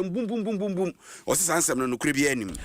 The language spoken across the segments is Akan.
Mbumbumbumbumbum! Ɔse saa nsɛm no nokorɛ biara nnim.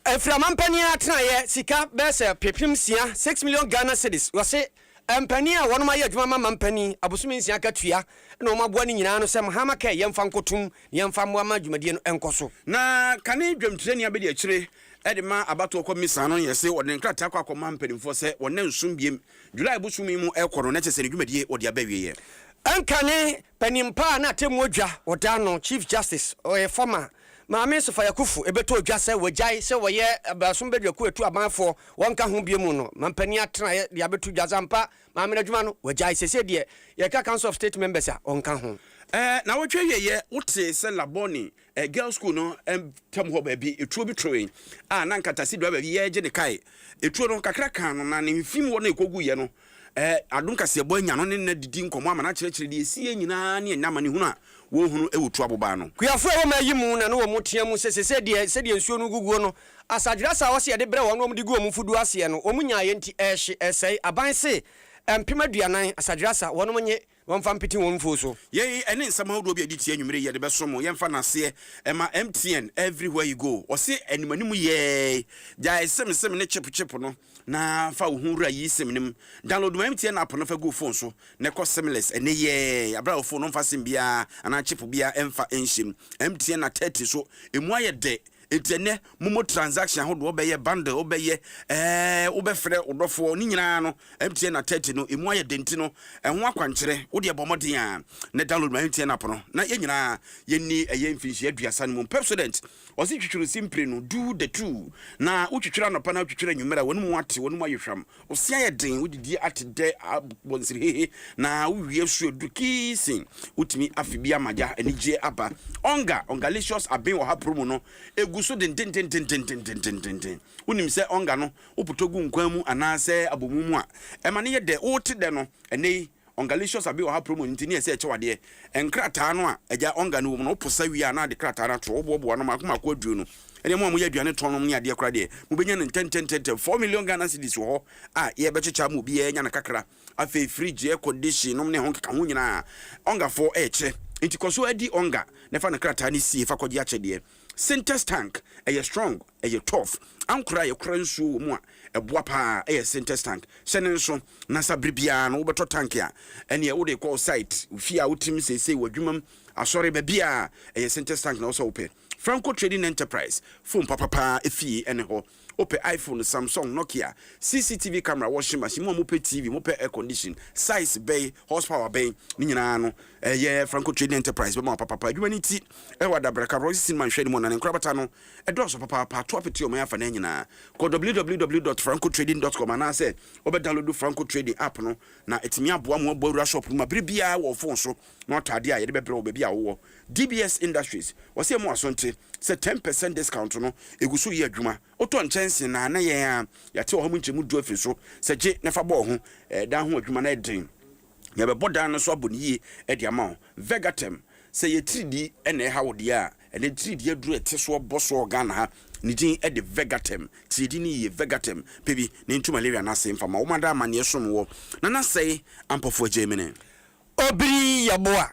Ɛfiri amanpanin a atenaeɛ sika bɛyɛ sɛ ɔpepem nsia, six million Ghana cedis, wɔse mpanin a wɔnom ayɛ adwuma ma mampanin abosome nsia akatua na wɔn aboa no nyinaa ano sɛ Mahama kɛ yɛmfa nkɔtom na yɛmfa mmoa ma dwumadie no nkɔ so. Na kane dwamtirani abɛdi akyire de ma abatoɔ kɔ misa no yɛse ɔde ne nkrataa kɔ akɔ ma mpaninfoɔ sɛ wɔn nna nson biem, July bosomi mu rekɔ no na kyɛsɛ ne dwumadie wɔde aba awieɛ. Nkane Panin pa a na atemmuo dwa wɔda no, Chief Justice, ɔyɛ former, Maame Nsofa Yakufu ɛbɛtɔ dwa sɛ wɔagyae sɛ wɔyɛ Abasom Badwakuo a ɛtu aban foɔ, wɔnka ho bio mu no, mampanin atenaeɛ de abɛto dwa sɛ ampa Maame no adwuma no wɔagyae, seesei deɛ yɛreka Council of State Members a, wɔnka ho. Ɛɛ, nnawɔtwe awieeɛ, wotee sɛ Labone Ɛ, girls school no ntam hɔ baabi, etuo bi towee a na nkatase driver bi yɛregye ne kae. Etuo no, kakra kaa no, na ne mfem hɔ na ekoguiɛ no. Ɛ, Adom Kaseɛbɔ anya no ne no adidi nkɔmmɔ ama no akyerɛkyerɛ deɛ esiiɛ nyinaa ne ɛnnɛ amanehunu a wɔrehunu wɔ tuo abobaa no. Kuafo a ɛwɔ mmaa yi mu na na wɔteɛ mu sɛ seesei deɛ sɛdeɛ nsuo no reguguo no, asadwerasa a wɔse yɛde brɛ wɔn na wɔde gu wɔn mfuduo aseɛ no, wɔn nyaaeɛ nti ɛrehye, ɛresɛe. Aban se mpem aduanan asadwerasa wɔnom nye. Wɔmfa mpete wɔn mfuo so. Yei ne nsɛm ahodoɔ bi a yɛde tie anwumerɛ yi yɛde bɛsom wo. Yɛmfa no aseɛ mma MTN everywhere you go. Wɔse anim anim yɛɛe. Gyae sem sem ne chip chip no na fa wo ho wura yi sem no mu. Download ma MTN app no fa gu wo phone so na kɔ simless ɛnnɛ yɛɛe aberɛ a wo phone no mfa sem biara anaa chip biara mfa nhyɛ mu. MTN na 30 so emu ayɛ dɛ Enti ɛnnɛ momo transaction ahodoɔ wobɛyɛ, bundle wobɛyɛ, ɛɛɛ wobɛfrɛ wo dɔfoɔ, ne nyinaa no MTN at thirty no ɛmu ayɛ den nti no ɛho akwankyerɛ wodeɛ bɔ mmɔden a na download ma MTN app no na yɛn nyinaa yɛnni ɛyɛ mfinhyia aduasa no mu. Pepsodent ɔse twitwiri simpire no, do the two, na wotwitwiri anɔpa na wotwitwiri anwummere a w'anomu ate, w'anomu ayɛ hwam, Ɔsea yɛ den, wode die ate dɛ abɔ nsirihehe na wowie a su aduru kiisin. Wotumi afe bi ama gya anigyeɛ aba. Ɔnga, Ongalaceous aben ɔha poromu no, ɛgu so dendendendendendendenden. Wonim sɛ ɔnga no, wopotɔ gu nkwan mu anaasɛ abɔmu mu a, ɛma no yɛ dɛ. Wote dɛ no ɛnnɛ yi. Ongalicious Abi Ɔha promo no nti ne ɛsɛ ɛkyɛw adeɛ. Nkrataa no a agya Onga no wɔ mu no, wopo sa wie a na ade krataa no atorɔ. Woboaboa no mmaako mmaako aduo no. Ɛnneɛ mo a moyɛ aduane tɔn nom ne adeɛ koraa deɛ, mobɛnya no ntɛntɛntɛntɛm. Four million Ghana cedis wɔ hɔ a yɛrebɛkyekyɛ ama obiara anya no kakra. Afei fridge, air condition nom ne ɛho nkekaho nyinaa, Ongafoɔ rekyɛ. Nti kɔ so di Onga na fa no krataa no sie fa kɔgye akyɛdeɛ. Sintex tank, ɛyɛ strong. Ɛyɛ turf ankora a yɛkora nsuo wɔ mu a ɛboa pa ara, ɛyɛ sintex tank. Hyɛ no nso na sa bere biara no wobɛtɔ tank a ɛneɛ wode kɔ wo site, wo fie a wotem seesei, w'adwuma mu, asɔre, baabiara ɛyɛ sintex tank na wosɛ wopɛ. Franco Trading Enterprise, phone papa pa ara efie ɛne hɔ. Wopɛ iPhone, Samsung, Nokia, CCTV camera, washing machine, mo a mopɛ TV, mopɛ air condition, size bɛn, horse power bɛn, ne nyinaa no ɛyɛ Franco Trading Enterprise bɛma wo papa pa. Adwuma no ti ɛwɔ Adabraka, Royce Cinema nhwɛanim hɔ na ne nkorabata no Ɛdɔɔso papaapa! To apete ɔman afanan nyinaa. Kɔ www dot franco trading dot com anaasɛ wobɛ download Franco Trading app no na atumi aboa mo abɔ awura shop no mu abere biara wɔ ɔfon so na wata adeɛ a yɛde bɛbrɛ wo baabi a wowɔ. DBS Industries, wɔse yɛma w'asonte sɛ ten percent discount no egu so yɛ adwuma. Wotɔ nkyɛnsee na na yɛn a yɛate wɔ ha mu nkyɛmu du afiri so sɛ gye na fa bɔ wo ho, ɛdan ho adwuma na ɛden. Yɛbɛbɔ dan no so abɔ no yie de ama wo. Vegatherm, Sɛ yɛ tiridii na ɛha wo deɛ a, ɛnɛ tiridii aduro a ɛte soɔ bɔ soɔ wɔ Ghana ha. Ne din de Vegatherm. Tiridii no yie, Vegatherm, pɛ bi na ɛntu malaria no ase mfa ma wɔn ada amanneɛ som wɔ Nanasɛi Ampɔfoɔ Gyamene. Obiri yɛ boa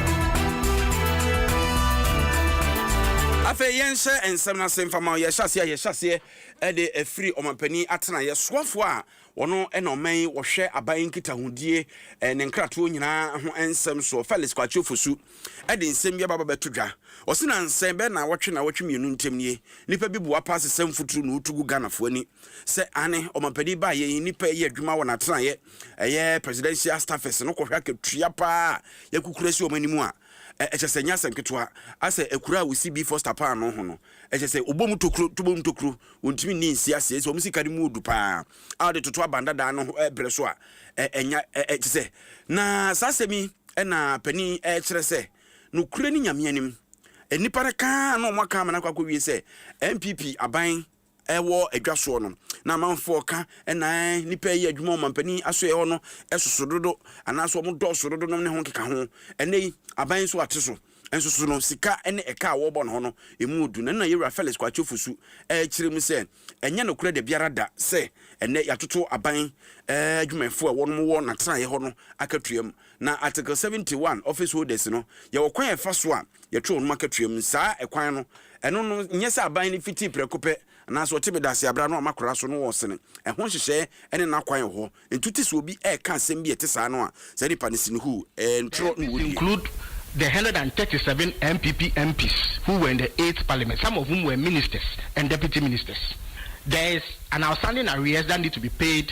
afei yɛnhyɛ nsɛm no ase mfama yɛhyɛ aseɛ a yɛhyɛ aseɛ de afiri ɔmampanin atenaeɛ soafoɔ a wɔno na ɔman yi wɔhwɛ aban nkitahodie ne nkratoɔ nyinaa ho nsɛm soɔ Felix Kwakye Ofosu de nsɛm bi ababa bɛto dwa ɔsi na nsɛn bɛɛ na wɔtwe na wɔtwe mmienu ntam nie nipa bi boa paa sesɛm futuro na ɔtu gu Ghanafoɔ ani sɛ ane ɔmampanin baayɛ yi nipa yɛ adwuma wɔ n'atenaeɛ ɛyɛ presidential staffers no kɔhwɛ akatua paa a yɛakukura si wɔn anim a, ɛkyɛ sɛ ɛnyɛ asɛm ketewa. Asɛ akuraa a wɔsi Bee Foster paa ano ho no, ɛkyɛ sɛ wɔbom tokuro, to bom tokuro, wɔntumi nni nsi aseɛ. Ɛkyɛ sɛ wɔn sika no mu ɔdu paa a wɔde toto aban dada ano berɛ so a ɛnya, ɛkyɛ sɛ. Na saa asɛm yi na panin ɛrekyerɛ sɛ nokorɛ ni Nyame anim, nnipa no ka ara na wɔaka ama no akɔ akɔwie sɛ NPP aban ɛwɔ adwa soɔ no, na amanfoɔ ka na nnipa reyɛ adwuma wɔ mampanin asoɛeɛ hɔ no soso dodo anaasɛ wɔn dɔɔso dodo nom ne ho keka ho. Ɛnnɛ yi, aban nso ate so. Nso so no, sika ne ɛka a wɔrebɔ no hɔ no, ɛmu ɔdu. Na ɛno na Yɛwura Felix Kwakye Ofosu rekyerɛ mu sɛ, ɛnyɛ nokorɛ da biara da sɛ ɛnnɛ yɛatoto aban adwumayɛfoɔ a wɔnom wɔ n'atenaeɛ hɔ no akatua mu. Na Article seventy one, Office Holders no, yɛwɔ kwan a yɛfa so a yɛto wɔnom akatua mu. Saa kwan no, ɛno no, nyɛ sɛ aban no fitii prɛko pɛ anaasɛ ɔte me dase abrɛ ano a makora so no wɔ sene. Ɛho nhyehyɛɛ ne n'akwan wɔ hɔ. Ntu te sɛ obi reka asɛm bi a ɛte saa no a saa nipa no sene huu, ɛɛ, ntwerɛ na These wɔdie. include the hundred and thirty seven NPP MPs who were in the eighth parliament, some of whom were ministers and deputy ministers. There is an outstanding arrears that need to be paid.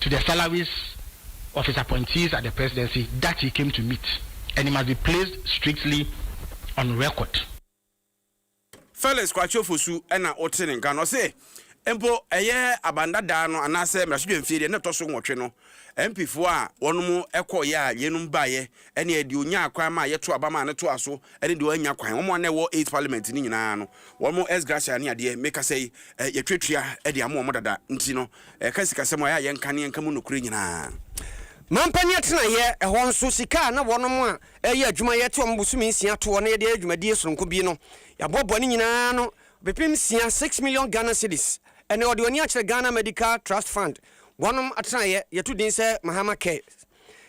to the salaries of his appointees at the presidency that he came to meet and it must be placed strictly on record. Felix Kwakye Ofosu na ɔte ne nka no. Ɔse mpo ɛyɛ abandadaa no anaasɛ mmarahyɛbadwamfie deɛ na ɛtɔ so nwɔtwe no, MPfoɔ a wɔnom kɔɔeɛ a yeinom baeɛ Ɛnneɛ deɛ ɔnyaa kwan maa yɛtoo aba maa no toaa so ne deɛ wannya kwan, wɔn a na ɛwɔ Eighth Parliament no nyinaa no, wɔn ex gratia ne adeɛ, mekasa yi, yɛtwa tua de ama wɔn dada, nti no, ɛka sikasɛm a, ɛyɛ a yɛnka ne yɛnka mu nokorɛ nyinaa. Mampanin atenaeɛ, ɛhɔ nso, sika a na wɔnom a ɛreyɛ adwuma yɛte wɔn bosome nsia toɔ na yɛde ayɛ dwumadie sononko bi no, yɛaboaboa ne nyinaa ano bepem nsia, six million Ghana cedis. Ɛnnɛ, wɔde wɔn ani akyerɛ Ghana Medical Trust Fund, wɔnom atenaeɛ, yɛto din sɛ Mahama Cares.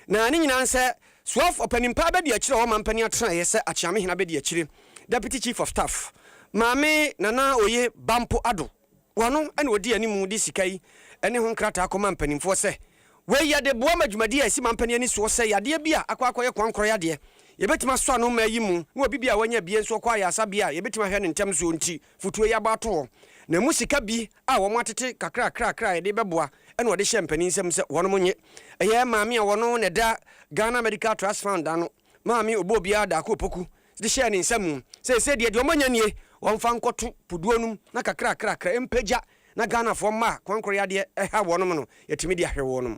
Na ne nyinaa nsɛ, Suɔf, ɔpanin paa bɛdi akyire a ɔwɔ mampanin atenaeɛ sɛ Akyeame Hena bɛdi akyire, Deputy Chief of Staff. Maame Nana Oye Bampo Addo Wano na ɔdi animu de sika yi ne ho nkrataa kɔma mpaninfoɔ sɛ, Wei yɛde boa ma dwumadie a ɛsi mampanin ani soɔ sɛ yadeɛ bi a akɔ akɔyɛ koankorɔ yadeɛ, yɛbɛtumi asɔ ano mma ayi mu, na obi bi a wanya abie nso ɔkɔ ayarsabea a yɛbɛtumi ahwɛ no ntɛm soɔ nti, fotuo yi abɔ ato hɔ. Na ɛmu sika bi a wɔn atete kakrakrakra a yɛde bɛboa ɛna ɔde hyɛɛ mpanin nsam sɛ wɔnom nnye. Ɛyɛ maame a wɔno na ɛda Ghana Medical Trust Fund ano, Maame Obobiara Darko Opoku, de hyɛɛ ne nsa mu. Seesei deɛ, deɛ wɔanya nie, wɔmfa nkɔto puduo nom na kakrakrakra ɛmpagya na Ghanafoɔ mmaa kwankoreyadeɛ ɛha wɔnom no, yɛatumi de ahwɛ wɔnom.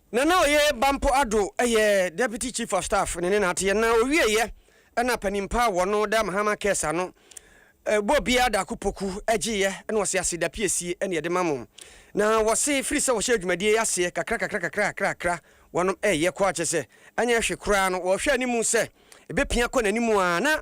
Nana Oye Bampo Addo yɛ Deputy Chief of Staff ne ne naateɛ na ɔwieɛ na panimpa a wɔno da Mahama Cares ano bɔ obiara Daako Poku gyeeɛ na ɔse asedapiesie ne yɛde ma mo na wɔse firi sɛ wɔhyɛɛ dwumadie yi aseɛ kakrakakra kakrakakra wɔnom reyɛ kɔ a kyerɛ sɛ anyɛ hwe koraa no wɔhwɛ animu sɛ ɛbɛpia kɔ n'anim a na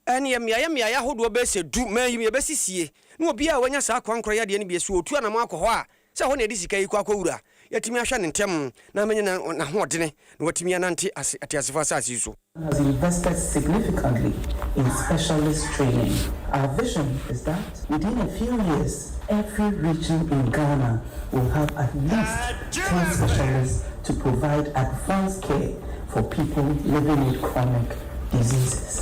ɛneɛ mmeaeɛ mmeaeɛ ahodoɔ bɛyɛ sɛ du mayim yɛbɛsisie na obiara a wanya saa kwan korɔ yɛ adeɛ no bi so ɔtu anamɔ akɔ hɔ a Sɛ ɛhɔ na yɛde sika yi kɔ akɔwura a, yɛatumi ahwɛ no ntɛm na ama anya n'ahoɔdene na watumi anante ase ateasefo asase yi so. Ghana has invested significantly in specialist training. Our vision is that within a few years every region in Ghana will have at least ten specialists to provide advanced care for people living with chronic diseases.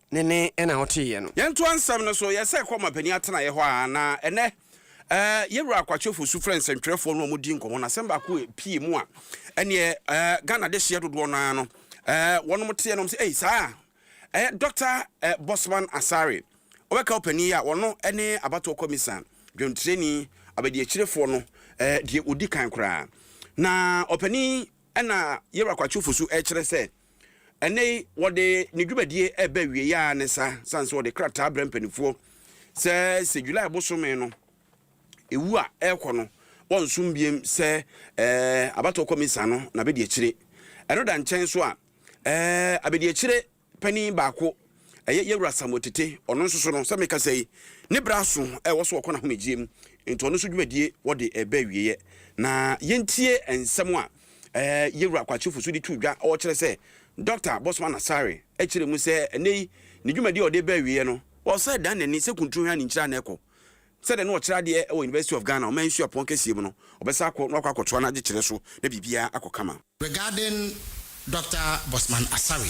Ne nne na woteeɛ no. Yɛntoa nsɛm no so, Yɛsan kɔɔ mapanin atenaeɛ hɔ a na ɛnnɛ yɛn wura Kwakyefoɔ su frɛɛ nsɛntwerɛfoɔ no a wɔdii nkɔmmɔ no. Asɛm baako a ɛpuee mu a ɛnneɛ Ghana adehyeɛ dodoɔ no ara no wɔnom teɛ nom sɛ, Ei, saa a ɛyɛ Dɔkta Bossman Asare. Wobɛka ɔpanin yi a ɔno ne abatoɔ kɔmisa dwontireni abadiakyirefoɔ no deɛ ɔdi kan koraa. Na ɔpanin yi na yɛn wura Kwakyefoɔ su rekyerɛ sɛ Ɛnnɛ yi, wɔde ne dwumadie reba awieeɛ ara ne saa, sane sɛ wɔde krataa brɛ mpanimfoɔ sɛ sɛ July bosome no ɛwu a ɛrekɔ no wɔnsom biem sɛ ɛɛ abatoɔ kɔmisa no na bɛdi akyire. Ɛno da nkyɛn so a, ɛɛ abɛdiakyire panin baako ɛyɛ Yɛwura Samuel Tete, ɔno nso so no sɛ mekasa yi ne berɛ aso ɛwɔ so ɔkɔ n'ahomegyeɛ mu, nti ɔno nso dwumadie wɔde reba awieeɛ. Na yɛntie nsɛm a Ɛɛ, yɛwura Kwakyefo nso de too dwa a ɔkyerɛ sɛ Dɔkta Bossman Asare kyerɛ mu sɛ ɛnnɛyi ne dwumadi a ɔde reba awieɛ no, ɔsan dan n'ani sɛ kunturo hwɛ a ne nkyiri anan kɔ. Sɛdeɛ na ɔkyerɛ adeɛ wɔ University of Ghana Ɔman Suapɔn kɛseɛ mu no, ɔbɛsan akɔ na wakɔ akɔtoa n'adekyerɛ so na biribiara akɔ kama. Regarding Dɔkta Bossman Asare,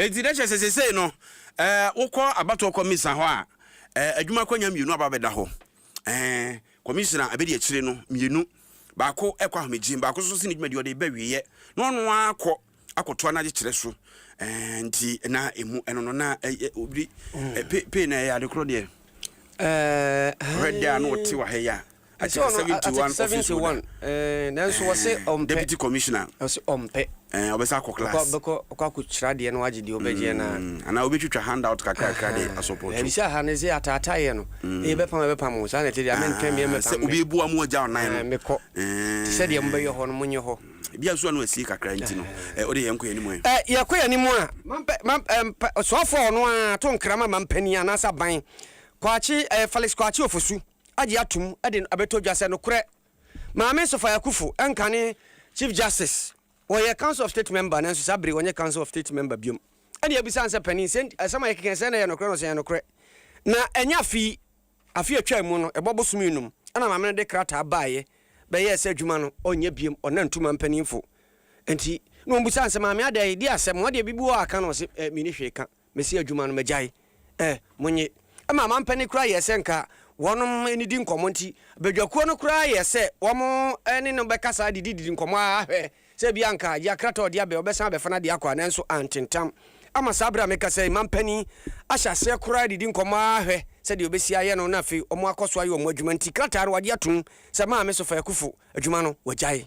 Enti na kyerɛ sɛ seesei no, wokɔ abatoɔ kɔmisa hɔ a, adwuma akwanya mmienu aba abɛda hɔ. Kɔmisina abɛdi akyire no mmienu, baako rekɔ ahomegyeɛ mu, baako nso si ne dwumadie ɔde reba awieɛ, na ɔno ara akɔ akɔtoa n'adekyeɛ so. Nti na ɛmu ɛno no na ɛyɛ obi pay na ɛyɛ ade korɔ deɛ. Ɔhwɛ deɛ a na ɔte wɔ ha yi a. Ɛsɛ Article ɔno a- seventy one article office holder. 71 ɛɛ, nanso wɔse Ɛɛ, ɔmpɛ Deputy commissioner. ɔse ɔmpɛ Ɛɛ, ɔbɛsa akɔ Ɔkɔ- class. bɛkɔ ɔkɔ akɔkyerɛ adeɛ no agye deɛ ɔbɛgyeɛ no a Mm, Anaa wobɛtwitwa handout kakrakra de asɔpɔto. Ɛbi sɛ aha no sɛ ataataeɛ no ɛyɛ bɛpam a bɛpam o saa na ɛte deɛ mentwɛn meɛ Ah, mɛpam Sɛ me. obi bua mu agya ɔnan Ah, no. mekɔ Ɛɛ. te sɛ deɛ mobɛyɛ hɔ no monyɛ hɔ Ebia nso ano asie kakra nti no. Ɛɛ, wode yɛn nkɔ yɛn anim ɛ. Ɛ, yɛkɔ yɛn anim a mampɛ- mam- ɛ, mpɛ- ɔsoafoɔ a ɔno ara to nkra ma mampanin anaasɛ aban kwakye ɛ, Felix kwakye ofosu agye atom de no abɛtɔ dwa sɛ nokorɛ Maame Nsofa Yakufu nkane Chief Justice. Ɔyɛ Council of State Member nanso saa bere yi ɔnyɛ Council of State Member biom. Ɛnna yɛbisa no sɛ, Panin, sɛ nti asɛm a yɛkeka yi sɛ na ɛyɛ nokorɛ no, ɔse ɛyɛ nokorɛ. Na ɛnyɛ afe yi, afe a ɛtwaa mu no, ɛbɔ bosome nnum, ɛnna Maame no de krataa baeɛ bɛyɛɛ sɛ adwuma no ɔnyɛ biom, ɔnna ntu ma mpaninfo. Nti na wɔbisa no sɛ, Maame adɛn, di asɛm, wɔn deɛ biribi wɔ hɔ a ka no? Ɔse, Menni hwee ka. Mesi adwuma no, magyae ɛ. Monye. Ɛmaa mampɛ no koraa yɛɛ sɛ nka wɔnom nnidi nkɔmmɔ nti, badwakuo no koraa yɛɛ sɛ wɔn ne no bɛkasa didididi nkɔmmɔ ara hwɛ sɛ ebia anka agye akrataa a ɔde aba yi ɔbɛsan abɛfa no adeɛ akɔ a, nanso antentam. Ama saa berɛ a mekasa yi, mampanin ahyɛ aseɛ koraa adidi nkɔmmɔ ara hwɛ sɛdeɛ ɔbɛsi ayɛ no na afei wɔakɔ so ayɛ wɔn adwuma nti krataa no wɔagye atom sɛ Maame Sofaa Akufo adwuma no wɔagyae.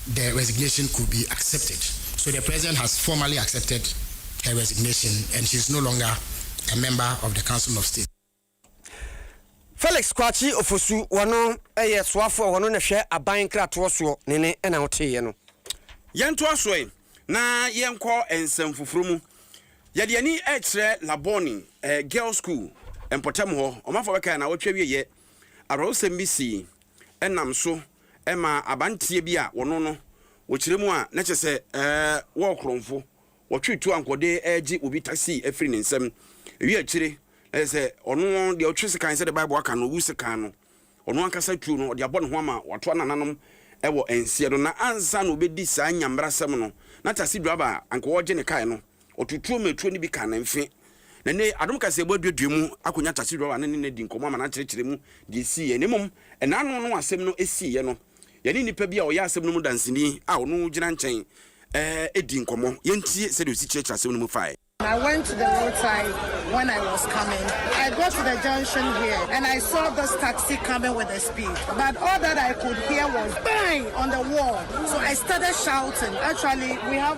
the resignation could be accepted so the president has formally accepted her resignation and she is no longer a member of the council of state. Felix Kwakye Ofosu, wɔno yɛ soafo a wɔno na hwɛ aban nkratoɔ soɔ, ne ne na woteeɛ no. Yɛntoa so ɛ na yɛnkɔ nsɛm foforɔ mu. Yɛde ani rekyerɛ Labone Girls School mpɔtam hɔ. Ɔmanfoɔ bɛkae a na wɔtwe awieɛ awerɛhosɛm bi sii nam so ma abanteɛ bi a wɔno no wɔkyerɛ mu a na kyerɛ sɛ wɔɔ korɔnfo, wɔtwe tu ankɔde gye obi taxi firi ne nsam. Ewie akyire na kyerɛ sɛ ɔno deɛ ɔtwe sekan sɛdeɛ Bible aka no ɔwu sekan no, ɔno ankasa tuo no ɔde abɔ ne ho ama watoa nananom wɔ nseɛ no. Na ansa na ɔbɛdi saa nya mmarasɛm no na taxi driver a anka ɔregye ne kae no Ɔtutuu mmeturo no bi kaa ne mfe, na nnɛ yi, Adom Kaseɛbɔ aduadua mu akɔnya Tase Dwawah ne ne na adi nkɔmmɔ ama no akyerɛkyerɛ mu deɛ ɛsiiɛ. Na mmom, ɛnanom no a asɛm no siiɛ no, yɛne nnipa bi a ɔyɛ asɛm no mu danseni a ɔno gyina nkyɛn dii nkɔmmɔ. Yɛntie sɛdeɛ ɔsi kyerɛkyerɛ asɛm no mu faeɛ. I went to the road side when I was coming I got to the junction here and I saw this taxi coming with a speed but all that I could hear was bang on the wall so I started shouting actually we have.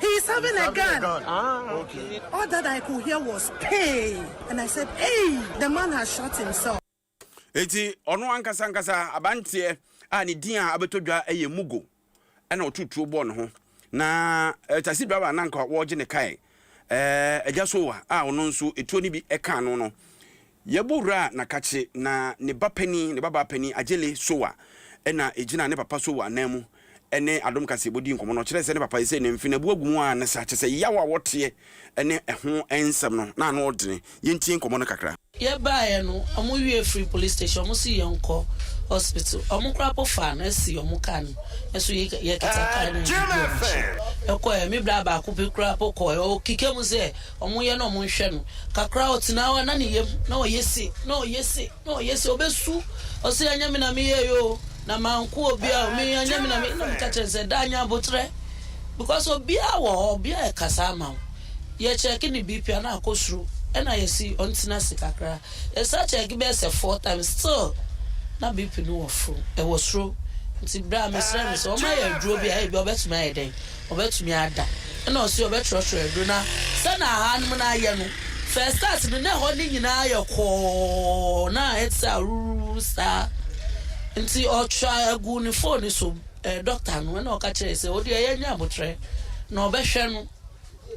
He is having a gun. Ah, okay. All that I could hear was pay, and I said, hey, the man has shot himself. Eti ɔno ankasa ankasa abanteɛ a ne din a abɛtɔ dwa yɛ Mugo ɛna ɔtu tuo bɔɔ ne ho na eh, taxi driver a nanka wɔregye ne kae eh, agya sowa a ɔno nso etuo no bi ɛka ano no Yɛbɔ wura Nakakye na ne ba panin, ne babaa panin Agyele Sowa na ɛgyina ne papa Sowa nan mu ne Adom Kaseɛbɔ dii nkɔmmɔ no. Ɔkyerɛɛ sɛ ne papa yi sɛ ne mfe no abu agu mu ara ne saa, kyerɛ sɛ yaw a wɔteɛ ne ɛho nsɛm no, na ano ɔdene. Yɛntie nkɔmmɔ no kakra. Yɛbaeɛ no, wɔn wie firii police station, wɔn se yɛnkɔ hospital. Wɔn koraa po faa no si wɔn car no so, yɛkita car no yɛde dii wɔn akyi kɔeɛ. Me bra baako bi koraa po kɔeɛ, ɔkeka mu sɛ Ɔmo yɛ na ɔmo nhwɛ no. Kakra a ɔtena hɔ a na ne yam na ɔyɛ se, na ɔyɛ se, na ɔyɛ se. Ɔbɛsu, ɔse anyɛ me na meyɛɛ yi oo, na manko obia oo, me anyɛ me na meyɛɛ yi. Na meka kyerɛ no sɛ da nya aboterɛ, because obia wɔ hɔ, obia ɛkasa ama wo. Yɛ check ne BP a na akɔ soro, ɛna yɛse ɔntena ase kakra. Yɛsan check bɛyɛ sɛ four times, still na BP no wɔ foro, ɛwɔ soro. Nti berɛ a mesrɛɛ no sɛ ɔma yɛ aduro bi a ebia ɔbɛtumi ayɛ dɛn. Ɔbɛtumi ada na ɔse ɔbɛtrɔtrɔ aduro na sɛ na ahanom no ayɛ no first start no na ɛhɔ no nyinaa ayɛ kɔɔ na ɛte sɛ awuruwuru saa nti ɔtwa agu ne phone so eh, doctor no na ɔka kyerɛ sɛ ɔde ɛyɛ nyɛ abotrɛ na ɔbɛhwɛ no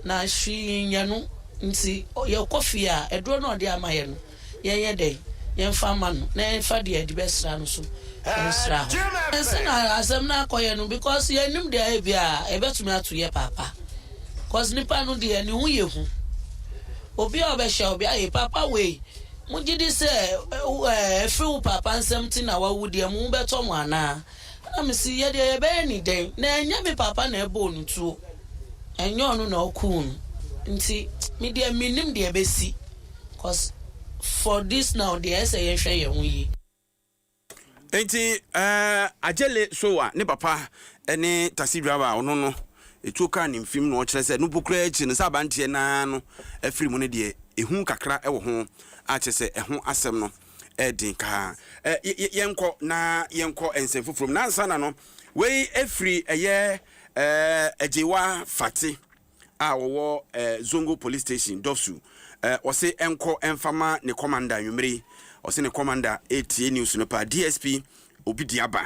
na hwee nyɛ no nti yɛkɔ fie a aduro na ɔde ama yɛ no yɛnyɛ dɛn? Yɛmfa mma no na yɛmfa deɛ yɛde bɛsra no nso nsra hɔ. Ɛnse na asɛm no akɔyɛ no because yɛnnim deɛ ebia ɛbɛtumi ato yɛ paapa because nipa no deɛ ne ho yɛ hu. Obi a ɔbɛhyɛ wo bia, ee papa wei mo gyedi sɛ ɛfiri wo paapa nsam nti na wawu deɛ mo ho bɛtɔ mo anaa? Ɛna me se, Yɛdeɛ yɛbɛyɛ no dɛn? Na ɛnyɛ me papa na ɛbɔɔ no tuo. Ɛnyɛ ɔno na ɔkuu no. Nti medeɛ mennim deɛ ɛbɛsi cos for this now deɛ ɛyɛ sɛ yɛnhwɛ yɛn ho yie. Nti eh, Agyele Sowa ne papa ne taxi driver a ɔno no ɛtuo kaa ne mfim na ɔkyerɛ sɛ nopo koraa akyiri no sɛ abanteɛ no ara no afiri mu no deɛ ɛhu kakra wɔ ho a kyerɛ sɛ ɛho asɛm no ɛden ka ha. Ɛ, yɛ, yɛ, yɛnkɔ na yɛnkɔ nsɛm foforɔ mu. Nansa na no, wei firi ɛyɛ ɛɛ Agyewa Fate a ɔwɔ ɛɛ Zongo Police Station, Dɔfsu. Ɛ, ɔse ɛnkɔ ɛmfa ma ne kɔmanda anwummere yi. Ɔse ne kɔmanda ɛretie news no paa. DSP Obidiaba.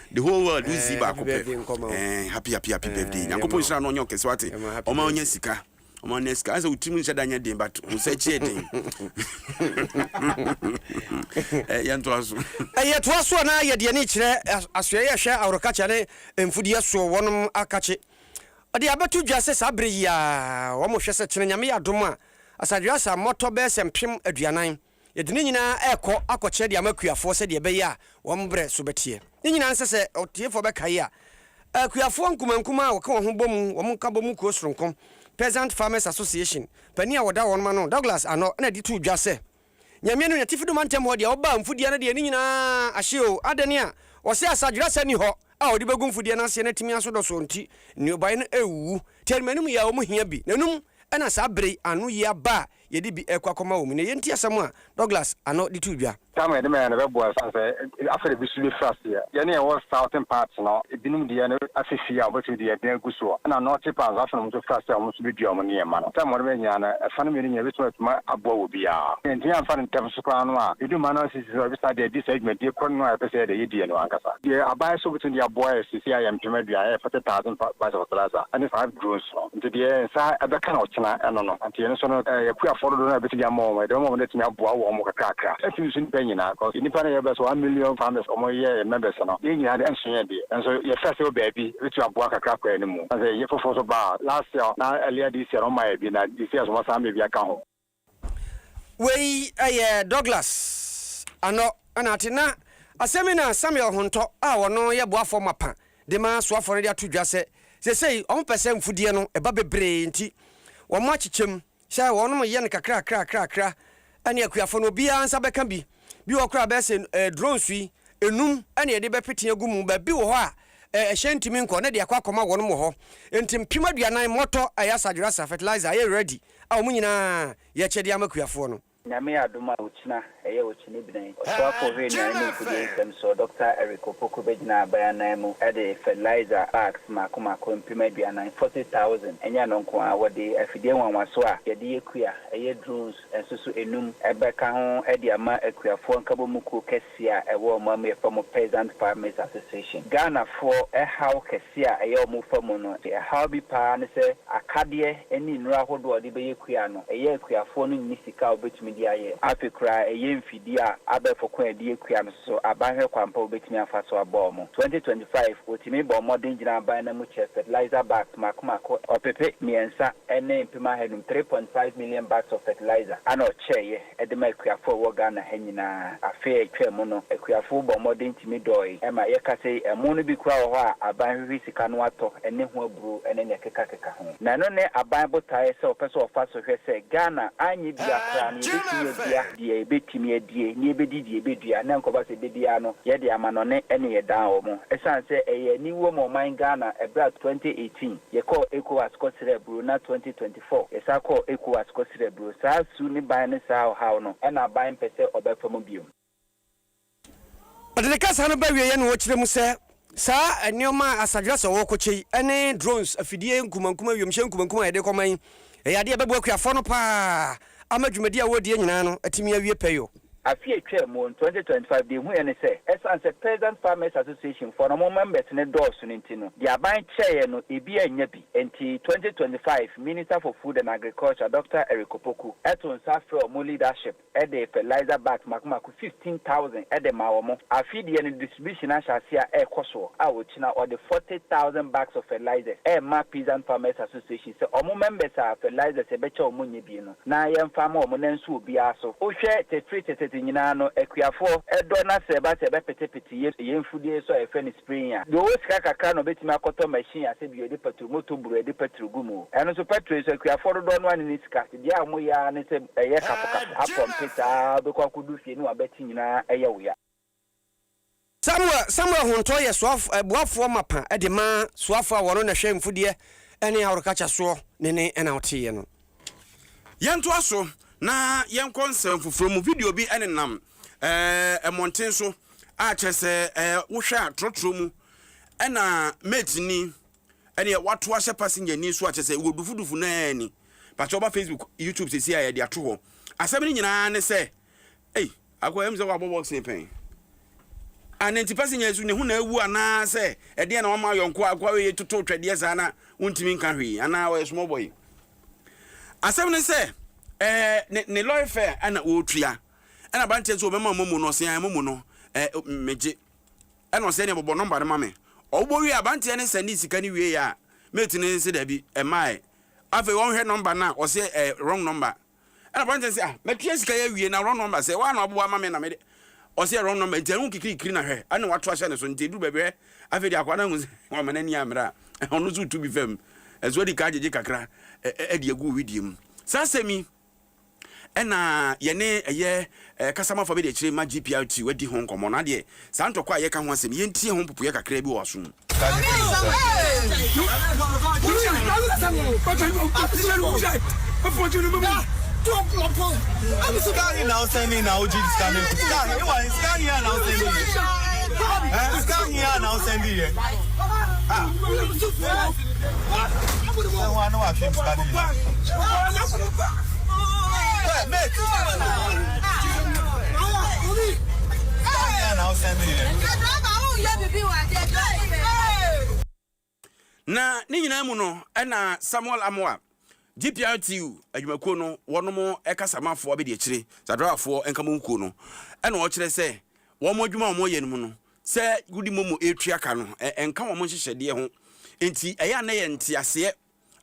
The whole world wo zii baako pɛ eh happy happy happy birthday nyankopɔn nhyira no ɔnyɛ ɔkɛse wate ɔma ɔnya sika ɔma ɔnya sika asɛ wotirim nhyɛ da nyɛ den but wo sɛ kyiɛ den eh, yɛntoa so ɛyɛ eh, toa so a na yɛde ani kyerɛ eh, asoɛ yɛ hwɛ aworokakye ne mfudeɛ soɔ wɔnom akakye ɔde abɛto dwa sɛ saa berɛ yi a wɔn hwɛ sɛ kyena nyame yɛ adom a asadwe asa mmɔtɔ bɛyɛ sɛ mpem aduanan Yɛde ne nyinaa rekɔ akɔkyerɛ de ama akuafoɔ sɛdeɛ ɛbɛyɛ a wɔn berɛ so bɛteɛ. Ne nyinaa nsɛ sɛ ɔtiefoɔ bɛkae a, akuafoɔ nkumankumaa a wɔka wɔn ho bɔ mu, wɔn nkabɔ mu kuo soronko, Peasant Farmers Association, panin a wɔda wɔn ano, Douglas Arnott, na ɛde too dwa sɛ, Nyame no, n'atifi do mantam hɔ deɛ ɔbaa mfudeɛ no deɛ ne nyinaa ahye o, adɛn a ɔse asadwerasa nni hɔ a ɔde bɛgu mfudeɛ no aseɛ na atumi aso dɔsɔɔ nti, nnuobaeɛ no awuwu. Tɛnimanum yɛ a wɔhia bi, na enum na saa bere yi ano yi aba a yɛde bi rekɔ akɔma wɔn mu. Na eyi nti asɛm a Douglas ano de too dwa. Tam a yɛde ma yɛn no bɛboa yɛn esiane sɛ afei na ebi nso befiri aseɛ. Yɛn a yɛwɔ southern part no, ebinom deɛ no afi fie a wɔbɛtumi de aduan agu so, ɛna northern part nso afei na wɔn nso firi aseɛ a wɔn nso bɛdua wɔn nneɛma no. Tam a wɔde ma yɛn nyinaa no, ɛfa no mmienu nyinaa ɛbɛtumi atumi aboa wɔ biara. Sɛ yɛantumi amfa no ntɛm so koraa no a, ɛdu mmaa no ase sisi a wɔbɛsan de adi saa dwumadie korɔ no a yɛpɛ sɛ yɛde yɛ die no ankasa. Deɛ aban nso bɛtumi de aboa yɛn seesei a yɛn mpem aduan, ɛyɛ forty thousand bags of fertilizer, ɛne five drones no. Ntsi deɛ hɛn nsa bɛkã no ɔkyena no no, ntsi hɛn so no yɛapuei afɔr dodow no a yebetumi ama hɔn, dɛm bɛma hɔn etumi aboa hɔn ho kakrakra. Nnsõ so nyimpa nyina, cos nyimpa no yɛɛ bɛso one million farmers a wɔyɛɛ members no, hɛn nyina dze nnsõ yɛ dze, naaso yɛhwɛɛ ase wɔ beebi, ebetumi aboa kakra kɔ hɛn mu. Osiandɛ yɛ fofor so ba a, last year na earlier this year no wɔmayɛ bi, na this year so wɔsan aba bi akã ho. Wei yɛ Douglas Anɔ Anate. Na asɛm yi na Samuel Hontɔ a ɔno yɛ boafɔɔ mapa de ma asoafɔɔ no de ato dwa sɛ, sesei wɔn pɛ sɛ mfudeɛ no ɛba bebree nti wɔn akyekyɛm sɛ wɔn yɛ no kakrakrakrakra ɛne akuafɔɔ no obiara nsa bɛka bi. Bi wɔ koraa bɛyɛ sɛ drones yi ɛnum ɛne yɛde bɛpete agu mu, baabi wɔ hɔ a ɛhyɛn ntumi nkɔ na ɛde akɔ akɔma wɔn wɔ hɔ. Nti mpem aduanan mɔtɔ a ɛyɛ asadwerasa, fertilizer, ɛyɛ ready. a wɔn nyinaa yɛ akyɛdeɛ ama akuafoɔ no. Nyame yɛ adom a okyena ɛyɛ okyene bnɛn ɔsoafo ohwere nnuane ne mfodie nsɛm soɔ Dɔkta Eric Opoku bɛgyina aban anan mu de fertilizer bags mako mako mpem aduanan, forty thousand, ɛnyɛ ɛno nko ara wɔde afidie nwanwaso a yɛde yɛ kua ɛyɛ drones nso so ɛnum bɛka ho de ama akuafoɔ nkabɔmu kuo kɛseɛ. Ti a ɛwɔ wɔn amuyɛ fa mu Peasant Farmers Association. Ghanafoɔ haw kɛseɛ a ɛyɛ wɔn fa mu no, haw bi pa ara ne sɛ akadeɛ ne nnuro ahodoɔ a wɔde bɛyɛ kua no, ɛyɛ akuafoɔ no nni sika a wɔbɛtumi de ayɛ. Afei koraa ɛyɛ mfidie a abɛɛfo kɔn a wɔde yɛ kua no nso so aban hwɛ kwan pa a wɔbɛtumi afa so abɔ wɔn. 2025, wɔtumi bɔɔ mmɔden gyinaa aban no amu kyɛɛ fertilizer bags mmaako mmaako, ɔpepe mmiɛnsa ne mpem ahanum, 3.5 million bags of fertilizer, a na wɔkyɛeɛ. de ma akuafo a wɔwɔ Ghana ha nyinaa. Afe a etwaam no, akuafo bɔɔ mmɔden tumi dɔɔe. Ma yɛkasa yi, ɛmo no bi koraa wɔ hɔ a aban hwehwe sika no atɔ, ɛne ho aburow ne nea ɛkekakeka ho. Na ɛno ne aban botae sɛ wɔpɛ sɛ wɔfa so hwɛ sɛ Ghana anyɛ biara koraa no, yebetumi adua deɛ yebetumi adie, na yebedi deɛ yebedua, na ɛnkɔba sɛ ebedi ara no, yɛde amanɔne ne ɛdan wɔn. Esiane sɛ ɛyɛ aniwuo ma ɔman Ghana bere a twenty eighteen yɛkɔɔ Ecowas kɔsrɛɛ aburow na twenty twenty Fɔ, Yɛsan kɔɔ Ecowas kɔsrɛɛ aburo. Saa su ne ban ne saa ɔhaw no na aban mpɛ sɛ ɔbɛfa mu bio. Ɔde ne kasa no bɛwieeɛ na ɔkyerɛ mu sɛ, saa nneɛma a Asadras a wɔrekɔkyɛ yi ne drones, afidie nkumankuma, wiemhyɛn nkumankuma a yɛde rekɔma yi, ɛyɛ adeɛ a ɛbɛboa akuafoɔ no pa ara. ama dwumadi a wɔredie nyinaa no atumi awie pɛyoo. Afe a ɛtwaa mu, twenty twenty five, deɛ ɛhuiɛ ne sɛ, ɛsiane sɛ Peasant Farmers Association foɔ no wɔn members no dɔɔso no nti no, deɛ aban kyerɛeɛ no, ɛbi annya bi. Enti, twenty twenty five, Minister for Food and Agriculture, Doctor Eric Opoku, too nsa frɛɛ wɔn leadership de fertilizer bags mako mako fifteen thousand de maa wɔn. Afe deɛ no, distribution no ahyɛ aseɛ a ɛrekɔ soɔ a ɔkyena ɔde forty thousand bags of fertilizers rema Peasant Farmers Association. Sɛ ɔmo members a fertilizers yɛbɛkyɛ ɔmo nyɛ bi no na yɛnfa ama ɔmo na nso obiaa so. Wo hwɛ tefiri tetete nyinaa no akuafoɔ dɔ na sɛ ɛba sɛ yɛbɛpetepete yɛ yɛ mfudie so a yɛfrɛ no spraying a deɛ ɔwɔ sika kakra na ɔbɛtumi akɔtɔ machine a sɛ bio yɛde patro moto buro yɛde patro gu mu o ɛno nso petro yi so akuafoɔ dodoɔ no a ne ne sika te deɛ a ɔmo yɛ ara ne sɛ ɛyɛ kafo kafo apɔmpe saa wobɛkɔ akɔdu fie ne wabati nyinaa ɛyɛ wo ya. Samuel, Samuel hontɔɔ yɛ soaf, boafoɔ mapa de ma soafoɔ a wɔno na hwɛ mfudeɛ ne ahorokakya soɔ ne ne ɛna woteeɛ no. Yɛntoa so na yɛnkɔ nsɛm foforɔ mu. Video bi nenam eh, mmɔnten so a kyerɛ sɛ eh, wohwɛ a trɔtrɔ mu ɛna mate ni ɛneɛ wato ahyɛ passenger ni so a kyerɛ sɛ wɔ dufudufu naa ni. Pakyɛ ɔba Facebook, YouTube sɛsi a yɛde ato hɔ. Asɛm no nyinaa ne sɛ Ei Akoa ɛyɛ me sɛ woabɔ boxing pɛn a na nti pɛsɛ nya su ne ho na awu anaasɛ ɛdeɛ na wama ayɔ nkoa akoa wei toto twɛdeɛ saa na wontumi nka hwee anaa ɔyɛ small boy asɛm ne sɛ ɛɛ ne ne lɔre fɛ ɛna ɔretua ɛna aberanteɛ nso ɔbɛma momo no ɔsea momo no ɛɛ megye ɛna ɔsɛ ne bɔbɔ nɔmba no ma me ɔwobɔ wie aberanteɛ ne sɛne sika no wie a mate ne se daabi ɛmaɛ afei wɔnhwɛ nɔmba no a ɔsɛ ɛɛ wrong nɔmba Ɛna aberanteɛ no sɛ, ah, matua sika yi awie, na wrong number sɛ, woa na wabobɔ ama me na mede, ɔsɛ wrong number, nti ɛno nkikirikiri na hwɛ, ɛna wato ahyɛ ne so, nti ɛduru baabi hwɛ, afei deɛ akwadaa no ahu sɛ wama n'ani ammra a, ɔno nso retu bi fam, ɛso adi kan agyegye kakra de agu wo wedeɛ mu. Saa asɛm yi ɛna yɛne ɛyɛ Eh, kasa ma fa me deɛ kyerɛ mma GPRT wadi ho nkɔmmɔ na deɛ saa ntɔkwa a yɛka ho asɛm yi yɛntie ho mpopoeɛ kakraa bi wɔ w'aso mu. Na ne nyinaa mu no, ɛnna Samuel Amoah GPRTU adwumakuo no wɔnom kasamanfoɔ abɛdiakyire, saa driverfoɔ nkamomukuo no na wɔkyerɛ sɛ wɔn adwuma a wɔyɛ no mu no sɛ wodi momo retua ka no nka wɔn nhyehyɛdeɛ ho nti ɛyɛ a na yɛ nteaseɛ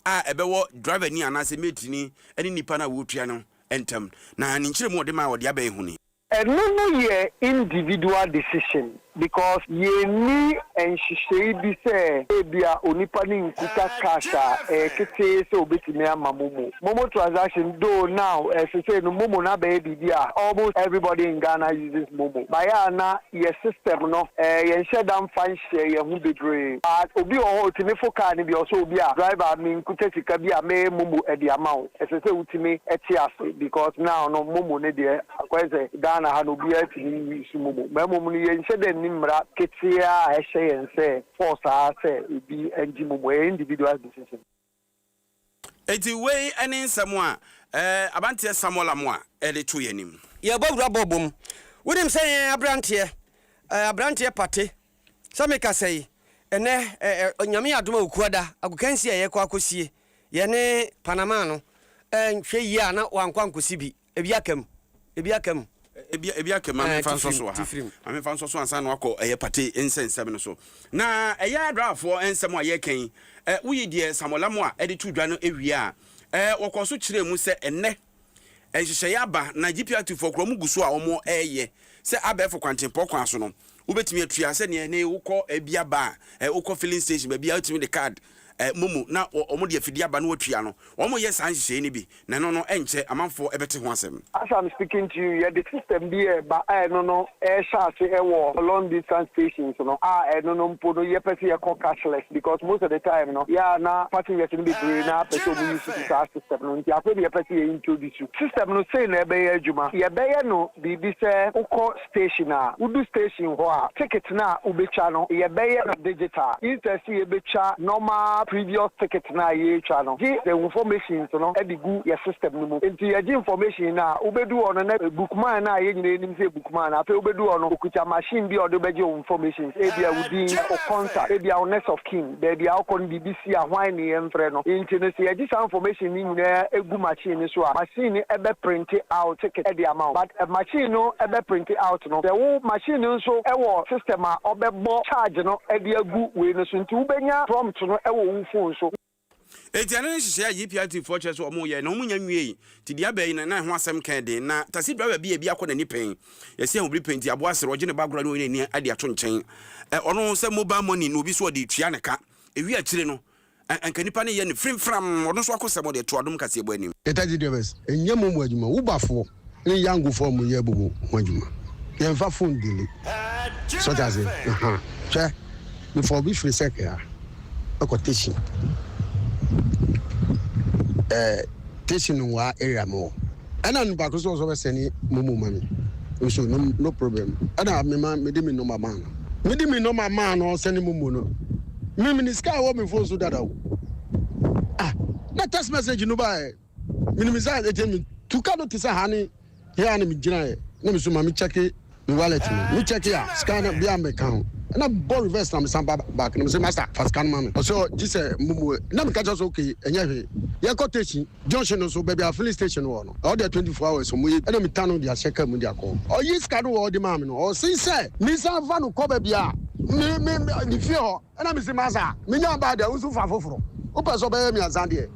a ɛbɛwɔ driverni anaasɛ mateni ne nipa no a wɔretua no ntam na ne nkyerɛmu a wɔde maa wɔde abɛn ho ni. Ɛno no yɛ individual decision because yɛnni nhyehyɛe bi sɛ ebia onipa no nkuta cash a ɛyɛ ketee sɛ obetumi ama momo. Momo transaction though now ɛsesei no momo no abɛyɛ biribi a almost everybody in Ghana uses momo but yɛ a na yɛ system no yɛnhyɛ da mfa nhyɛ yɛn ho bebree but obi wɔ hɔ otumi fo car no bi a ɔsɛ obi a driver menkuta sika bi a mɛyɛ momo de ama wo. Ɛsɛ sɛ wotumi te ase because now no momo no deɛ akɔyɛ sɛ Ghana ha no obiara tumi use momo na mmom no yɛnhyɛ da nni mmara ketewaa a ɛhyɛ yɛn sɛ force ara sɛ obi ngye momo, ɛyɛ individual's decision. Enti wei ne nsɛm a Abanteɛ Samuel Amoah de to yɛn anim. Yɛbɔ wura bɔ bom. Wonim sɛ yɛn abranteɛ, abranteɛ pate Sɛ mekasa yi, ɛnnɛ ɛ, Nyame yɛ adom a Okuada agokansi a yɛkɔ akɔsie yɛne Panama no nhwɛ yie a na wankɔ ankɔsi bi. Ebi aka mu. Ebi aka mu. Ebi, ebi aka mu. Ma memfa nsɔ so wɔ ha. Ma memfa nsɔ so ansa na wakɔ ɛyɛ Pate nsɛnsɛm no so. Na ɛyɛ Adorafoɔ nsɛm a yɛreka yi, ɛ, woyi deɛ Samuel Amoah de too dwa no wie a, ɛ, wɔkɔɔ so kyerɛɛ mu sɛ ɛnnɛ, nhyehyɛe aba na GPRT foɔ koraa wɔn gu so a wɔn ɛɛyɛ sɛ abɛɛfo kwantempɔn kwan so no wo bɛtumi atua sɛ neɛ ne wo kɔ ɛbi aba a ɛ wo kɔ filling station baabi a wo tumi de card ɛ momo na wɔn de afidie aba na watua no wɔn yɛ saa nhyehyɛe no bi na ɛno no ɛnkyɛ amanfoɔ ɛbɛte ho asɛm. As I'm speaking to you yɛde system bi ɛɛba a ɛno no ɛɛhyɛ ase ɛwɔ long distance stations no a ɛno no mpo no yɛ pɛ sɛ yɛkɔ cashless because most of the time no yɛ a na passengers no bebree no ara pɛ sɛ wɔn use saa system. System no nti afei na yɛpɛ sɛ yɛ introduce system no sei na ɛbɛyɛ adwuma yɛbɛyɛ no biribi sɛ wokɔ station a wodu station hɔ a ticket no a wobɛtwa no yɛbɛyɛ no digital instead sɛ yɛbɛtwa normal previous ticket no a yɛtwa no gye the informations no de gu yɛ system no mu nti yɛgye information no a wobɛdu hɔ no na bookman no a yɛn nyinaa nim sɛ yɛ bookman no afei wobɛdu hɔ no ɔkuta machine bi a ɔde bɛgye wo informations ebia wo din wo contact ebia wo next of kin. Baabi a ɔkɔ no biribi si a hwan ne yɛmfrɛ no. Nti no sɛ yɛgye saa information no nyinaa gu machine no so a, machine no bɛ printe out ticket de ama wo. But machine no bɛ printe out no, sɛ wo machine no nso wɔ system a ɔbɛbɔ charge no de agu wei no so nti wobɛnya prompt no wɔ wo phone so. Enti ɛno ne nhyehyɛe a GPRT foɔ kyerɛ sɛ wɔyɛe na wɔnnya nwiei. Tebea bɛn no na ɛho asɛm kɛɛ den, na taxi driver bi a ebi akɔ n'ani pɛn? Yɛse yɛn ho bere pɛ nti aboa sere ɔgye ne ba agorɔ ne ɔyere ani ade ato nkyɛn. Ɛ ɔno sɛ mobile money na obi so ɔde retua ne ka. Ewie akyire no ɛ anka nipa no yɛ no frimfram ɔno nso akosɛm ɔde to adom kaseɛbɔ anim. Yɛ taxi drivers nyɛ mo mo adwuma Uber foɔ ne Yango foɔ mo yɛ bobo mo adwuma yɛnfa phone dele so wate aseɛ ahaa hwɛ Mefaa obi firi Sɛkɛa kɔ Tesin. Ɛɛ Tesin nwaa area mowɔ. Ɛna nipa koro so ɔsɔ bɛ sɛni momo ma mi. Nso no no problem. Ɛna me ma me di mi nɔma maa no. Me di mi nɔma maa no ɔsɛni momo no. Me me ni sika wɔ me fon so dada o. Ah na text message no ba ɛ. Menim saa ɛkyɛ me tu ka do te sɛ ha ne he a na me gyina ɛ na me so ma me kyɛke me wallet no me kyɛke a sika no bia me ka ho na me bɔ reverse na me san ba back na me se master fa sika no ma me ɔse ɔ gye sɛ mo mu ɛ na me ka kyerɛ so ok ɛnyɛ hwee yɛ kɔ teshi junction no so baabi a filling station wɔ no ɔdeɛ 24 hours ɔmo yɛ bi ɛna me ta no de ahyɛ car mu de akɔ ɔyi sika no wɔ ɔde maa me no ɔse sɛ me san fa no kɔ baabi a me me me fie hɔ ɛna me se master me nya baa deɛ wo nso fa foforo wo pɛ sɛ ɔbɛyɛ me aza deɛ.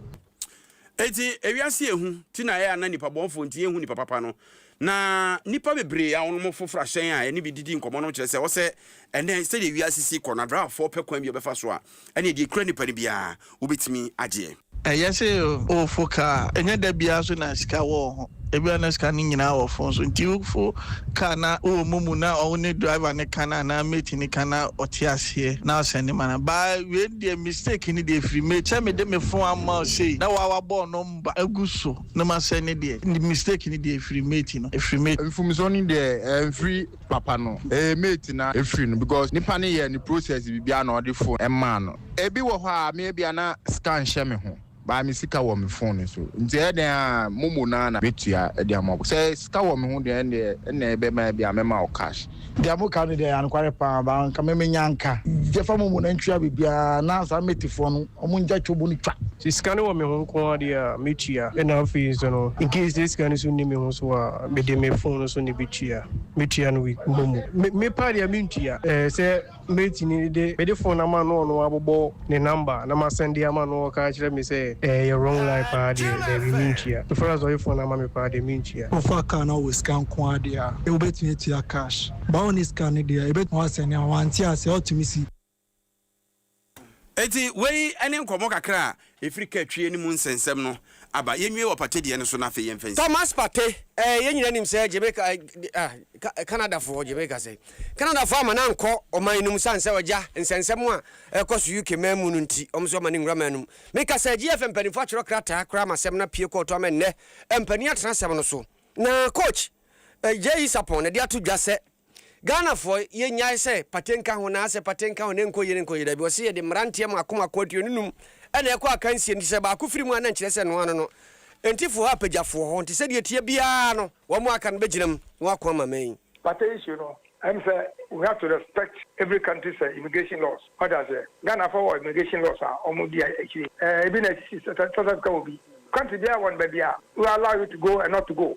Enti ewiase yɛ hu ti na ɛyɛ a na nnipa bɔnfo nti yɛnhu nnipa papa no. Na nnipa bebree a wɔnom foforo ahyɛn a yɛne bi didi nkɔmmɔ no kyerɛ sɛ ɔsɛ ɛnnɛ sɛdeɛ wiase si kɔ no adraafoɔ pɛ kwan bi a ɔbɛfa so a ɛneɛ deɛ ɛkura nnipa no biara wobɛtumi agyeɛ. Ɛyɛ sɛ ɔfo kaa, ɛnyɛ da biara nso na sika wɔ ho. Ebia na sika no nyinaa wɔ fon so, nti wofo kaa na wowɔ mo mu na ɔwo ne driver no ka no anaa mate no ka na ɔte aseɛ na ɔsɛnde ma no. Baa wei no deɛ mistake no deɛ ɛfiri mate sɛ mede me fon ama wo sei na woa wabɔ wo nɔmba agu so na masɛnde deɛ mistake no deɛ ɛfiri mate no ɛfiri mate. Mfomsoɔ no deɛ ɛmfiri papa no ɛyɛ mate na ɛfiri no because nipa no yɛɛ ne process biribiara na ɔde fon maa no. Ebi wɔ hɔ a me ebia na sika nhyɛ me ho. Baa me sika wɔ me phone so nti ɛyɛ dɛn a momo no ara na mɛtua de ama wo. Sɛ sika wɔ me ho deɛ ɛndeɛ ɛna ɛbɛma ebia mɛma wo cash. Deɛ mo ka no deɛ ɛyɛ anokware paa baa anka me me nya nka. Yɛfa momo na ntua biribiara na saa mate foɔ no ɔmo ngya twobo no twa. Sɛ sika no wɔ me ho nko ara deɛ a mɛtua ɛna afei nso no incase sɛ sika no nso nni me ho so a mede me phone no so na ɛbɛtua. Mɛtua no with momo. Me me paa deɛ mentua sɛ. Mɛtumi de mede phone no ama no ɔno abobɔ ne number na ma sɛnde ama no ɔka akyerɛ me sɛ ɛyɛ wrong line paa deɛ daabi mentua so far as ɔye phone no ama me paa deɛ mentua. Wofa car na wowɔ sika nkoaa deɛ a wobɛtumi atua cash but wonni sika no deɛ yɛbɛtumi wa sɛnde ama wo ante aseɛ wotumi si. Enti wei ne nkɔmmɔ kakra a Ɛfiri ka twie no mu nsɛnsɛm no aba. Yɛnwie wɔ Pate deɛ no so na afei yɛmfa nsi. Thomas Pate, eh, yɛn nyinaa nim sɛ Jamaica, ah, Ka, Canadafoɔ, Jamaica sɛn? Canadafoɔ amma no ankɔ ɔman no mu sane sɛ ɔgya nsɛnsɛm a ɛrekɔ so UK man mu no nti, wɔn nso amma no nwura man no mu. Meka sɛ GFM mpanimfoɔ atwerɛ krataa koraa ma asɛm no apue kɔɔto ama nnɛ mpanin atena asɛm no so. Na Coach, eh, Jay Isapon na de ato dwa sɛ. Ghanafoɔ yɛ nyae sɛ pate nka ho na asɛ pate nka ho na ɛnkɔ yie no nkɔ yie dabi wɔse yɛde mmeranteɛ mako mako aduonu num ɛna ɛkɔ akansie nti sɛ baako firi mu a na nkyerɛ sɛ ɛnoa no no nti foɔ hɔ apagyafoɔ hɔ nti sɛdeɛ ɛteɛ biara no wɔn aka no bɛgyina mu na wɔako ama man yi. Pate issue no ɛne sɛ we have to respect every country's immigration laws wate aseɛ Ghanafoɔ wɔ immigration laws a wɔn di akyire ɛɛ ebi na ɛsisi sɛ South Africa wɔ bi country biara wɔ no baabi a wɔ allow you to go and not to go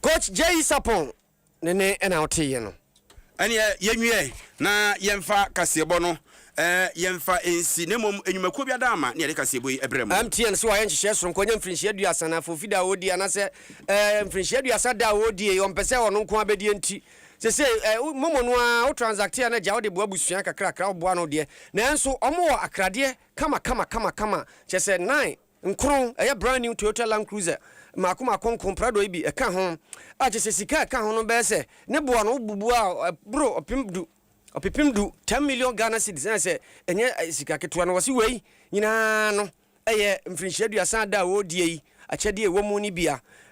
Coach Jay Sapon ne ne na woteeɛ no. Ɛneɛ yɛnwie na yɛmfa kaseɛbɔ no yɛmfa nsi na mmom nnwumakuo bi adaama ne yɛde kaseɛbɔ yi brɛ mo. MTN se wayɛ nhyehyɛɛ soronko anya mfirinhyia aduasa na afei ofi da a ɔredie anasɛ ɛɛ mfirinhyia aduasa da a ɔredie yi ɔmpɛ sɛ ɔno nko ara bɛdie nti sesei ɛɛ wo momo no ara wo transacte a na gya wode boa abusua kakrakra woboa no deɛ nanso wɔn wɔ akradeɛ kama kama kama kama kyɛ sɛ nine Nkron, ɛyɛ brand new Toyota Land Cruiser mmaako mmaako nko, Prado yi bi ka ho, a kyerɛ sɛ sika a ɛka ho no bɛyɛ sɛ ne bo ano bubu a ɛboro ɔpem du, ɔpepem du, ten million Ghana cedis, na sɛ ɛnyɛ sika ketewa no, wɔse wei nyinaa no yɛ mfirinhyia aduasa da a wɔredie yi akyɛdeɛ a ɛwɔ mu no bi.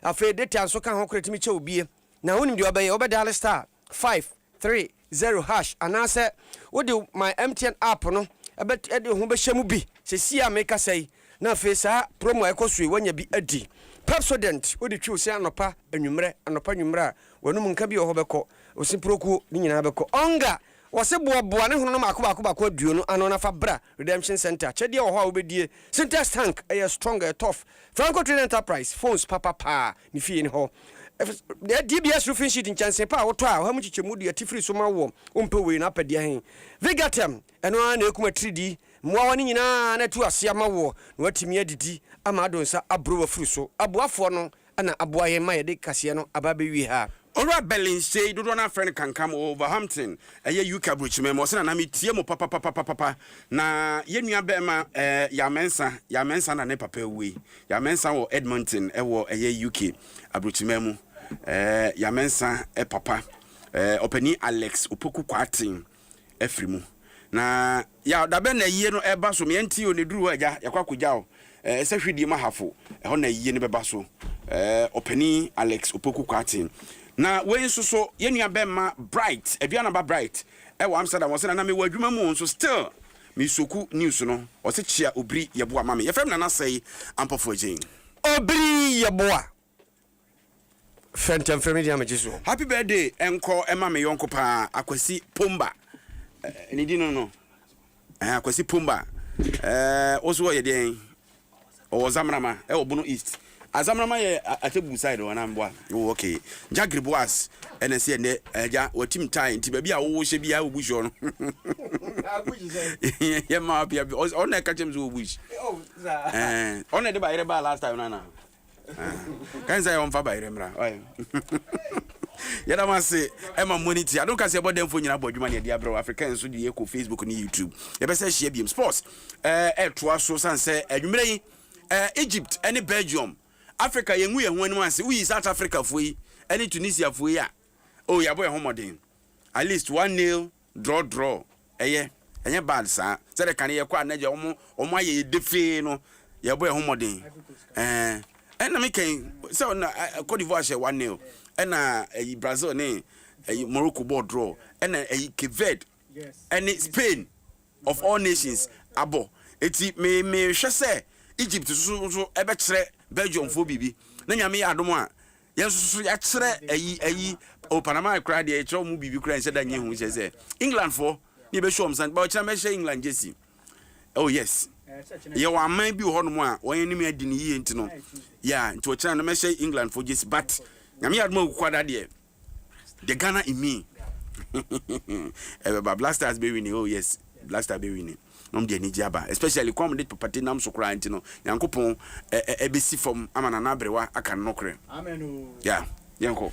Afei data nso ka ho, kora tumi kyɛ wo bie, na wonim deɛ ɔbɛyɛ, wobɛdaale star. five three zero hash anaasɛ wode My MTN app no bɛt ɛde wo ho bɛhyɛ mu bi sesie a mekasa yi na afei saa promo a ɛkɔ so yi woanya bi adi. Pepsodent wode twiw se anɔpa anwummerɛ anɔpa anwummerɛ a w'anom nka bi wɔ hɔ bɛkɔ wo se prokuo ne nyinaa bɛkɔ ɔnga wɔse boaboa ne hononom baako baako baako aduo no ano na fa bra Redemption Centre kyɛdeɛ wɔ hɔ a wobɛdie Sintex tank ɛyɛ strong ɛyɛ tough Franco Trading Enterprise phones papa paa ne fie no hɔ. Ɛf, DBS roofing sheet nkyɛnsee pa a wotɔ a ɔha mu nkyekyɛmu du ati firi so ma wo wompɛ wei no apɛdeɛ he. Vigatem, ɛno ara na ɛkum atiridi mmoawa no nyinaa na atu ase ama woɔ na woatumi adidi ama ado nsa aboro w'afuru so. Aboafoɔ no na aboa yɛn ma yɛde kaseɛ no aba abɛwie ha. Owura Berlin sei, dodoɔ no ara frɛ no Kankam, ɔwɔ Wolverhampton, ɛyɛ UK aburokyiman mu, ɔse Nana metie mo papapapapapa, na yɛn nua barima eh, Yaw Mensah, Yaw Mensah na ne papa awue, Yaw Mensah wɔ Edmonton ɛwɔ ɛyɛ UK aburokyiman mu, eh, Yaw Mensah eh, papa eh, ɔpanin Alex Opoku Kwarteng. afiri mu na yaw dabɛn na ayie no ɛba so meɛ nti o ne duru hɔ agya yɛkɔ akɔgya o ɛsɛ hwedie mu ahafo ɛhɔ na ayie no bɛba so ɔpani Alex Opoku Kwarteng na wei nso so yɛn nua bɛmma Bright aduanaba Bright ɛwɔ Amsterdam wɔsɛ nana mewɔ adwuma mu nso still mesoku news no ɔsɛ kyia obiri yɛboa ma me yɛfrɛ me nana sɛe ampɔfo agyen. Obiri yɛboa. Frɛ ntɛm frɛ me deɛ a megye soɔ. Happy birthday nkɔ ma me yɔnko paa Akwasi Pomba eh, ne din no no eh, Akwasi Pomba eh, wo so ɔyɛ deɛn ɔwɔ Zamrama ɛwɔ Bono East a Zamrama yɛ Atebu side wɔ anamboa wo oh, okay Jagri Boas ɛna ɛsɛ ɛnɛ agya eh, watim tae nti baabi a wowɔ hyɛ biara wɔ bush hɔ no yɛ ma apia ɔna ɛka kyɛm so wɔ bush eh, ɔna ɛde ba yere baa last time no anaa kan sɛ ɔmfa bayerɛ mmra yɛda mo ase ɛma mmɔ ne ti adom ka sɛ ɛbɔ dɛmfo nyina bɔ adwuma ne ɛde abrɛ afrika nso de yɛkɔ facebook ne youtube yɛbɛsɛ ahyia biom sports ɛtoa so sane sɛ adwumerɛ yi egypt ne belgium africa yɛngu yɛn ho anim ase woyi south africa foɔ yi ne tunisia foɔ yi a Oh yɛabɔ yɛn ho mmɔden at least one nail draw draw ɛyɛ ɛnyɛ bad saa sɛdeɛ kane yɛkɔ a na gya wɔn wɔn ayɛ yɛ defee no yɛbɔ yɛn ho mmɔden ɛɛ ɛna mi kɛn sɛ ɔna Cote d'Ivoire hyɛ one nail ɛna ɛyi Brazil ne ɛyi Morocco bɔ draw ɛna ɛyi Cape Verde ɛne Spain of all nations abɔ eti me mehwɛ sɛ Egypt nso nso ɛbɛkyerɛ Belgium foɔ biribi na nyame yɛ adom a Yɛn nso so yɛakyerɛ ayi ayi o Panama koraa deɛ yɛkyerɛ wɔn biribi koraa nhyɛ da nyɛ ho kyerɛ sɛ England foɔ ne yɛbɛhyɛ wɔn san ba ɔkyerɛ mɛhyɛ England gyesi oh yes yɛ wɔn aman bi wɔ hɔnom a wɔn anim adi no yie nti no yɛ nti ɔkyerɛ no mɛhyɛ England foɔ gyesi but nyame yɛ adoma kuku ada deɛ the Ghana in me ɛbɛba Blasters bɛwi ni oh yes Blaster bɛwi ni. na ɔde anigye aba especially kwan a wɔde papa te nam so koraa nti no Nyankopɔn bɛsi fam ama Nana Aberewa aka ne nokorɛ yeah yɛnkɔ.